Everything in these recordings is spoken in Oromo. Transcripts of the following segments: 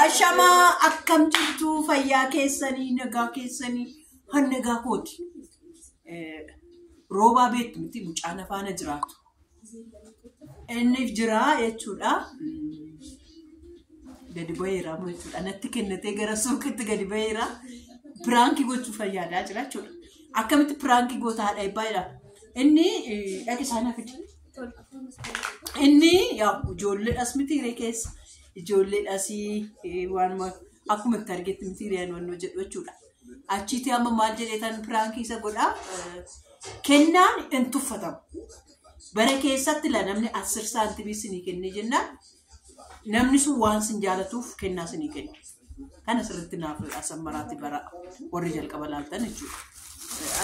Ashamaa akkam jirtu fayyaa keessanii nagaa keessanii han nagaa kooti. Eh, Roobaa beektu miti mucaan afaana jiraatu. Inni jira jechuudha. Mm, Gadi baheera amma jechuudha. Natti kennatee gara suuqitti gadi baheera. Piraankii gochuu fayyaadaa jira jechuudha. Akkamitti piraankii goota haadha ebbaa jedha. Inni eh, dhaqi isaa na fide. Inni yaa ijoolleedhas miti hiree keessa ijoolleedhas eh, waanuma akkuma itti argetti miti hireen wannoo jedhu jechuudha. Achiitii amma maal jedheetan piraankii isa godhaa eh, kennaan hin tuffatamu. Bara keessatti la namni asir saantimii isinii kennee jennaan Namni sun waan sin jaalatuuf kennaa sinii kenna. Kana sirriitti naaf asammaraatti bara warri jalqaba laaltan jechuudha.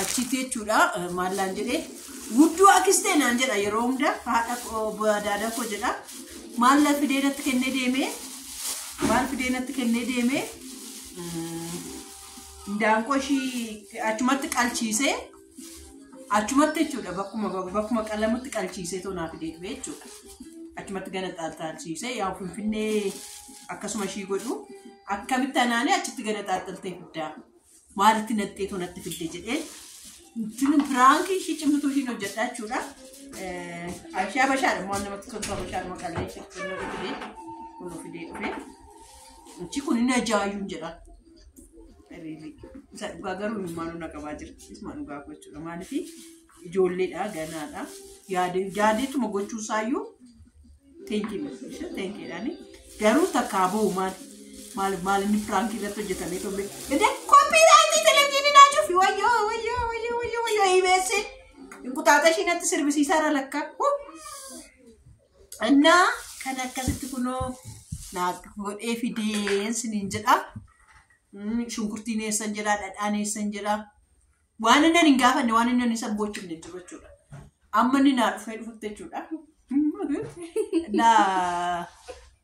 Achitti jechuudha eh, maallaan jedhee guddoo akistee naan jedha yeroo hunda haadha koo daada koo jedha maalla fidee natti kennee deemee maal fidee natti kennee deemee mm, indaanqoo ishii achumatti qalchiisee Achumatti jechuudha bakkuma bakkuma qalamutti qalchiisee too naaf fidee dhufe jechuudha. Achumatti gana xaaxalchiisee yaa finfinnee akkasuma ishii godhu akkamitti anaanee achitti gana xaaxaltee fiddaa maalitti naxxee too natti fidde jedhee tun piraanki ishii cimtuu ishiin hojjedha jechuudha. Abishaa bashaadha waan namatti toltu abishaadhuma qallee ishee fidee kunuu fidee dhufe. Achi kun inni ajaa'ibuun jedha. Riilii. Isa dhugaa garuu ilmaanuu na qabaa jira. Isuma dhugaa koo jechuudha. Maaliif ijoolleedha ganaadha. Yaadee yaadeetuma gochuu isaayyuu teenkii miti. Teenkiidhaani. Garuu takkaa bahu maal maal maal inni piraankii irratti hojjetamee tolle. Dede kooppiiraayitii televiziyoonii naa cufi wayyoo wayyoo wayyoo wayyoo wayyoo ibeessee. Inqutaata ishiin natti sirbisiisaa irra lakkaa. Huh! Annaa kan akkasitti kunoo naa godhee fideen siniin jedha. Mm, Shunkurtiin eessan jira, dhadhaan eessan jira. Waan inni hin gaafanne, waan inni isa bochifne hin jiru jechuudha. Amma inni naa dhufee dhufutti jechuudha. Naa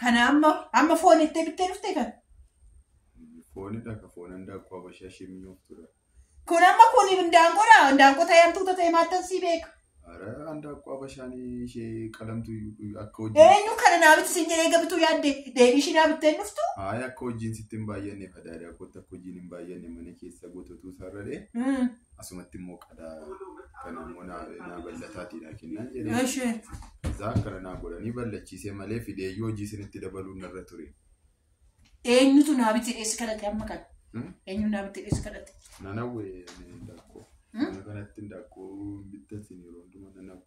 Kana amma amma foon itti bittee dhuftee kan. Foonidha ka foon handaaqqoo abashaa ishee mi'ooftuudha. Kun amma kun hindaanqoodha. Hindaanqoo ta'ee hamtuu ta'ee maattan sii beeka. Ara handaaqqoo abashaan ishee qalamtu akka hojii. Eenyu kana naa bitti siin jedhee gabituu yaadde deebii ishii naa bittee hin dhuftu. Haaya akka hojiin sitti hin baay'anne fadaadaa kootti akka hojiin hin baay'anne mana keessa gototuu sararee asumatti immoo qadaa kana immoo naa naa bal'ataati naa kennaan jedhee Eshi. isaa akkana naa godhanii ballachiisee malee fideeyyuu hojii isinitti dabaluun narra ture. Eenyutu naa bitti dheessi kadhate amma kana? Hmm? Eenyu naa bitti dheessi kadhate? Nanawwee ni daakkoo. Hmm? Mana kanatti daakkoo bittan siin yeroo hundumaa nanawwee.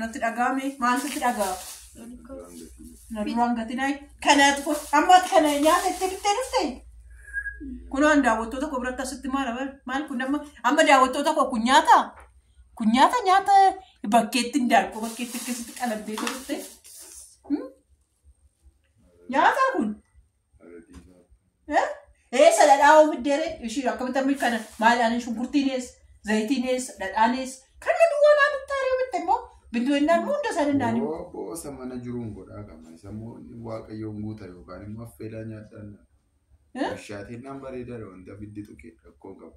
Natti dhagaame maal sitti dhagaa? Na duraan gatinaa kanaatu kun amma ati kana nyaata itti bittee dhufte. Kunoo an daawwattoota koo biratti asitti maal abar maal kun amma amma daawwattoota koo kun nyaata kun nyaata nyaata bakkeetti hindaaqqoo bakkeetti akkasitti qalabdee dhufte. Nyaata kun. Eessa dhadhaa oomidde ree? Ishii akkamitti amma kana maal aanan shunkurtiin eessa? Zayitiin eessa? Dhadhaan eessa? Kana duwwaa naa bittaa ree bitte immoo bindoo innaan immoo hunda isaanii naanii. Boosa mana jiruun godhaa qaba. Isa immoo inni waaqayyoon guuta yookaan immoo affeelaa nyaadhaan. Bishaatiin naan bareedaadha wanta biddi tuqee rakkoo qabu.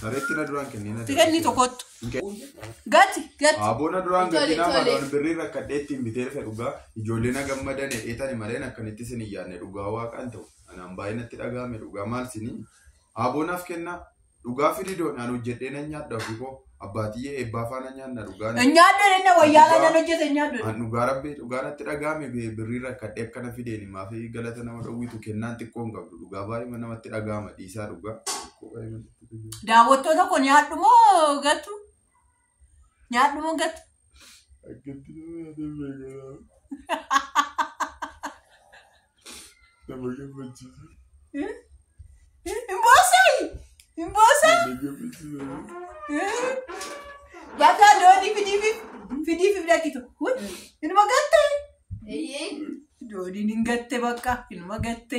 Sareetti na duraan kennee na Tiketni tokkottu. Gatti gatti. Aboona duraan Tole, gatiin tole. amaadhaan birrii rakkadhee ittiin bitee dhufe dhugaa ijoollee na gammadan dheetani malee akkanitti isin hin yaadne dhugaa waaqaan ta'u anaan baay'ee natti dhaga'ame dhugaa maal isinii aboonaaf kennaa dhugaa firidoon aan hojjedhee nan nyaadha ofii koo abbaatiyyee eebbaa faana nyaanna dhugaa na- Nyaaddoon inni wayyaala nan hojjete nyaaddoon. aan dhugaa rabbii dhugaa natti dhaga'ame bi- birrii rakkadhee akkana fideeni maaf galata nama dhowwitu kennaan xiqqoo hin qabdu dhugaa baay'ee namatti dhaga'ama dhiisaa dhugaa. Daawwattoota koo nyaadhu moo gattu? Nyaadhu moo gattu? Akkatti nama yaadee beekaa nama gammachiisa. Hin boossayi! Hin boossa! Nama gammachiisa. Bakka doonii fidiifi fidiifi fidakito. Inuma gatte! Dooniin hin gatte bakka inuma gatte.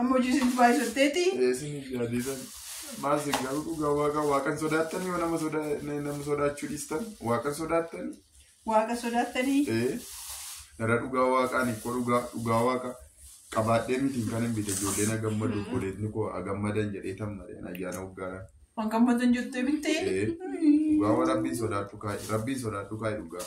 Amma hojii isin baay'isatteeti. Eesin yaadisan maal sin garuu dhugaa waaqa waaqan sodaattanii nama soda nama sodaachuu dhiistan waaqan sodaattanii Waaqa sodaattanii. ee dara dhugaa waaqaan ikkoo dhugaa dhugaa waaqa qabaadhee mitiin kan hin bite ijoollee na gammadu obboleetni koo a gammadan jedhee tan malee ayyaana hoggaadhaan Waan gammadan jettee bittee. ee dhugaa waan rabbiin sodaadhu kaa'i rabbiin sodaadhu kaa'i dhugaa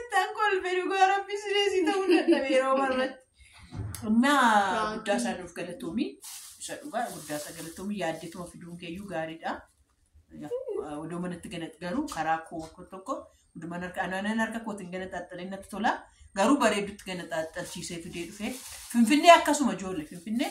Ittaan kolfe dhugaa rabbi sireesii ta'uu dadhabe yeroo marratti. Naa Baankiin. guddaa isaa nuuf galatoomi. Isa dhugaa guddaa isaa galatoomi yaaddeetuma fiduun keeyyuu gaariidha. Yaa, Odoo manatti ganatti garuu karaa koo koo tokko hundumaan harka anaanan harka kootiin ganaxaaxxalee natti tola. Garuu bareedutti ganaxaaxxalchiisee fidee dhufee. Finfinnee akkasuma ijoollee Finfinnee